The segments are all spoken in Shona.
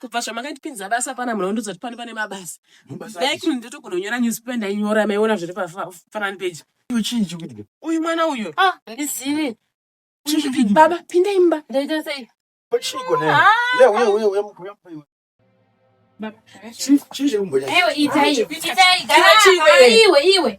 kubva zvamakandipinza basa pana munhu wandiudza kuti pano pane mabasa like ndotogona kunyora newspaper ndainyora maiona zviri pafanani peji uyu mwana uyu ah, ndizivi baba pinda imba ndaita sei iwe iwe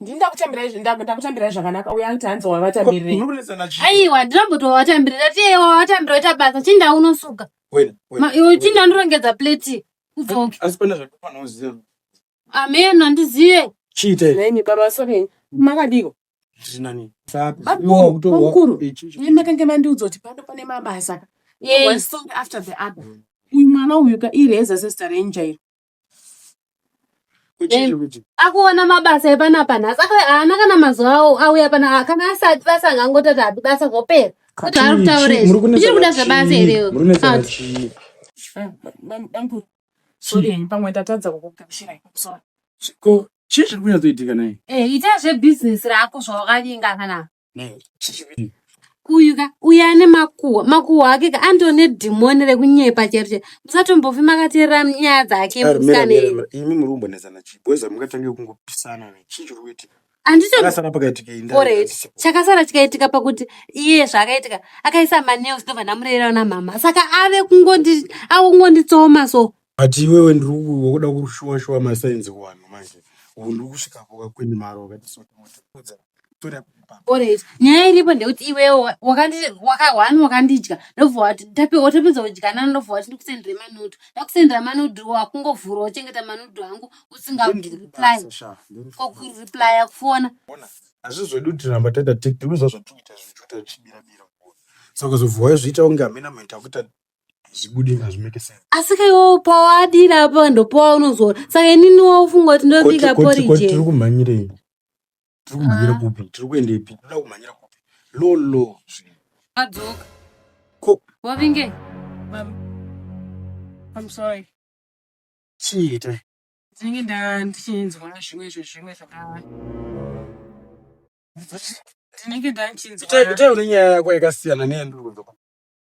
ndini ndakutambirai zvi- ndaku- ndakutambirai zvakanaka uya anti hanzi wavatamirei Muri kunetsana chii? aiwa ndinombotowatambirira tiye wawatambira oita basa chinda unosuka Wena, wena, Ma- iwe wena. chinda ndorongedza plate udzoke Asi pane zvakafanira uziva. ameno handizive Chiita here? nhaimi baba sorry makadiko Ndiri nani? Sapi. Bamkuru, Iwe wakutowa- bamkuru. Eh, chii, chii, Imi makange mandiudza kuti pano pane mabasa Ka. Yei. One song after the other uyu mwana uyu ka ireza sesta renjairo akuona mabasa epanapa nhasi haana kana mazuva awo auya pana kana asati basa angangotati hapi basa zvopera kuti ari kutaura izvi uchiri kuda zvebasa here chii zviri kunyatsoitika naye eh, ita zvebusiness rako zvawakavinga kana uyu ka uyu ane makuhwa makuhwa ake ka andiwo nedhimoni rekunyepa chero chero musatombofi makateerera nyaya dzake imi muri kumbonetsana chii boys hamungatange kungopisana chii chiri kuitika chakasara chikaitika pakuti iye zvaakaitika akaisa manews ndobva ndamureyerawo namama saka ave kungonditsoma so But iwewe ndiri wakuda kushuwa shuwa masainzi kuvanhu manje. Ubu ndiri kusvika kuka kweni maro wakati so ndimotipudza. Tora papa. Alright. Nyaya iripo ndekuti iwewe wa- wakandi- waka- one wakandidya ndobva wati tapi- watopedza kudyanana ndobva wati ndikusendere manudhu ndakusendera manudhu wakungovhura wochengeta manudhu angu usinga Ndiri reply kubasa, sha. Ndiri ko kubasa. kureplya kufona Ona. Hazvi zvedu tiramba taita tik ndiri zvazvatikuita zvichiita zvichibira bira. So kuzobva wazviita kunge hamena mheta kuita hazvibude hazvimeke sense asi ka iwe upawo adira apa ndopawa unozora saka inini waufunga kuti ndobika porije tiri kumhanyirei tiri kumhanyira ah. kupi tiri kuendepi toda kumhanyira kupi lolo adzoka ko wavinge I'm sorry chii itai ndinenge nda ndichinzwa zvimwe izvo zvimwe zvakava ndinenge nda ndichinzwa itai une nyaya yako yakasiyana neyandiri kunzwa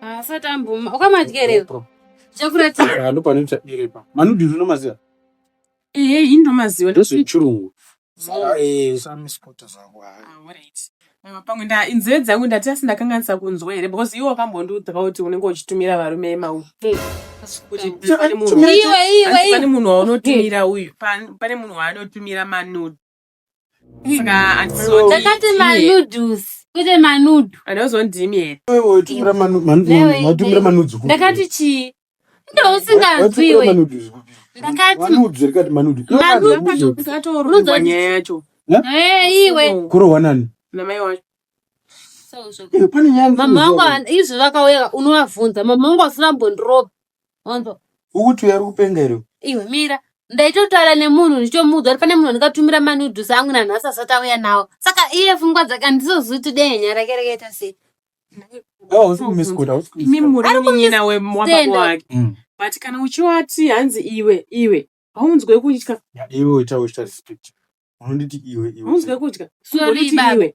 Asati ah, amboma. Ukamadyerera. Chakuratira. Ah, Ndopane ndichadyereba. Manudhiri unomaziva? Ehe, ini ndomaziva. Ndozvechirungu. Ah, eh, samisipota zvangu. Pamwe nda inzeve dzangu ndati asi ndakanganisa kunzwa here because iwe wakambondiudza kuti unenge uchitumira varume emau. Pane munhu waunotumira uyu, pane munhu waanotumira manude. takati manoodles kwete manudu anozondimi here watumira manudzi ndakati chii ndousinganzwiwe ndakati manudzi nyaya yacho iwe kurohwa nani namai wacho mama wangu izvi vakauya unovavhunza mama wangu asina mbondiropa Wanzwa? Ukuti uya ari kupenga here? Iwe mira. Ndaitotaura nemunhu ndichomuudza kuti pane munhu andikatumira manudhusi angu nanhasi asati auya nawo. Saka iye fungwa dzake handizozivi kuti dai nyaya rake rakaita sei. Awa usi kumisikuta, usi imi kumisikuta. muri Ari kumis- munyina we- wababa stand. wake Mm. but kana uchiwati hanzi iwe iwe haunzwe kutya Iwe uita uita respect. Unonditi iwe iwe. haunzwe kutya Sorry, Unonditi baba. iwe.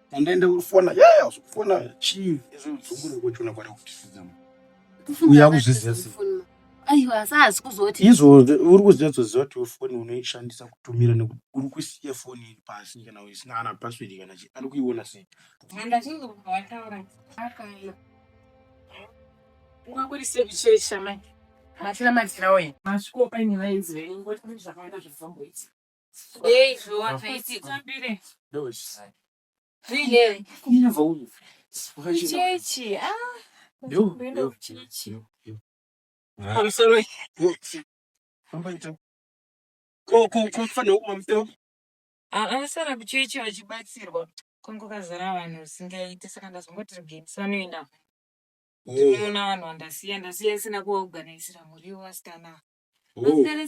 Andende urifona yaya usukufona chii izvo udzungure kochona kwada kutisizama uya kuzviziva sei aiwa asi haasi kuzoti izvo uri kuzinyatsoziva kuti foni unoishandisa kutumira nekuti uri kusiya foni iri pasi kana isina ana password kana chii ari kuiona sei handachinge kubva wataura akana ungakurisekuchesha mai matira matira oye masvikopa ini vaizive ingoti zvakaenda zvazomboita Hey, you want to see something? No, it's fine. Really? Come here, Vaulu. Chichi, ah. Yo, yo, Chichi. I'm sorry. Ambaita. Ko ko ko fana uma mteo. Ah, ah, sana kuchichi wachibatsirwa. Kongo kazara vanhu singaite saka ndazongoti rigenisa noenda. Oh. Ndinoona vanhu vandasiya ndasiya sina kuorganisira muriwo asikana. Oh. Asikana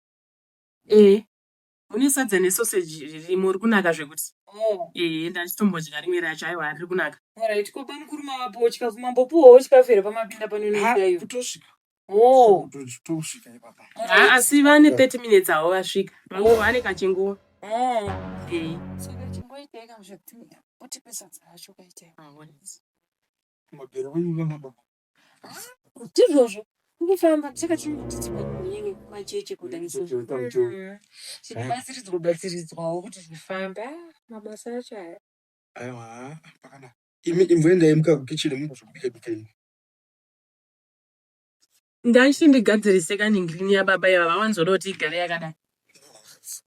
Ehe. Mune sadza nesoseji ririmo riri kunaka zvekuti. Oh. Ehe ndachitombodya rimwe racho aiwa riri kunaka. Alright, ko bamukuru mavapowo chikafu mambopuwawo chikafu here pamapinda pano Ha, inoita iyo? kutosvika Oh. Kuto- tosvika ipapa Ha, asi vane 30 minutes avo vasvika. Mangoro vane kachinguva. Oh. Ehe. Saka chimboitai kamwe zvekuti mutipe sadza racho kaitai. Mabere wenyu nana baba ndizvozvo kufamba saka tinotitswa kunini macheche kudaizvozvobatsiridzwa mm. batsiridzwawo kuti zvifambe mabasa acho aya aiwa pakana imi imboendai muka kukicheni mukuzvobika bika ini ndaichi ndigadzirise kaningrini yababa yava vawanzoda kuti igare yakadai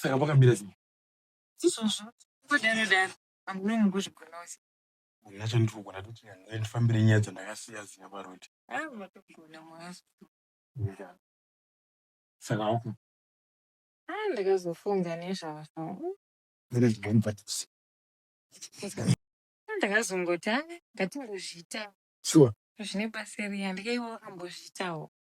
saka pakamira sei izvozvo kudaro daro amune mukuzvigona usi nacho ndiri kugona toti nyange ndifambire nyaya dzandakasiya ziya paroti haa matogona mwazo saka wako haa ndakazofunga nezvazvo ere zvinganibhatisi ndakazongoti haa ngatingozviita shuwa zvine basa riya ndikaiwa wakambozviitawo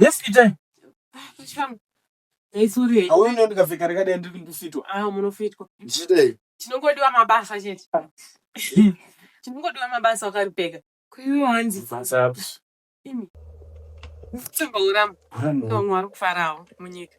Yes, Itai. Chikamu. Hey, sorry. Hauoni kuti ndikapfeka rakadai ndiri kundofitwa. Ah, munofitwa. Ndichidei. Chinongodiwa mabasa chete. Chinongodiwa mabasa wakaripfeka. Kuiwe hanzi. Basa api? Imi. Tsimba uramba. Ndo mwari kufarawo munyika.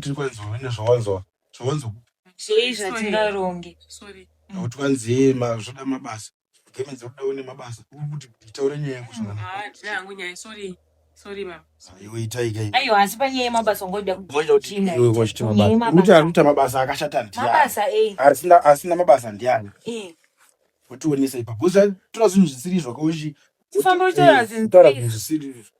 tiri kwanzi une zvawanzwa zvawanzwa zvei zvatingaronge kuti kwanzi zvoda mabasa gemenzi kuda une mabasa kuti taure nyaya yangu aiwa asi panyaya yemabasa ungoda kuita mabasa akashata ndiasina mabasa ndiani otionesa ipapo toa zvinhu zvisiri izvo kauchi toa zvinhu zvisiri izvo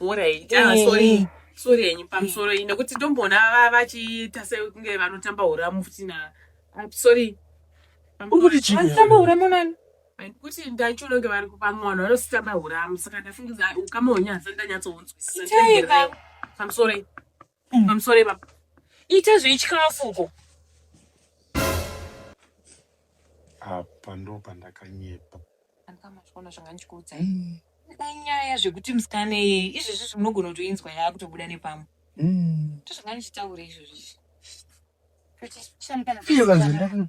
Alright. Ah, Eh, sorry. eh. Sorry yenyu pamusoro iyi nekuti ndomboona va- vachiita sekunge vanotamba huramu futi na ah, sorry. Uri kuti chii? Vanotamba huramu nani? Kuti ndaichiona kunge vari kupa mwana vanositamba huramu saka ndafungiza ukama hwenyu hausati ndanyatsounzwisisa. Itai ka. I'm sorry. Mm. I'm sorry baba. Ita zveichikafu uko. Apa ndo pandakanyepa. Andikama zvona zvanga ndichikuudza. Mm. Nyaya zvekuti musikana yeye izvezvi zvinogona kutoinzwa yaakutobuda nepamwe. Mm. Ndozvanga ndichitaura izvozvi. Kuti shamkana. Iyo kanzenda.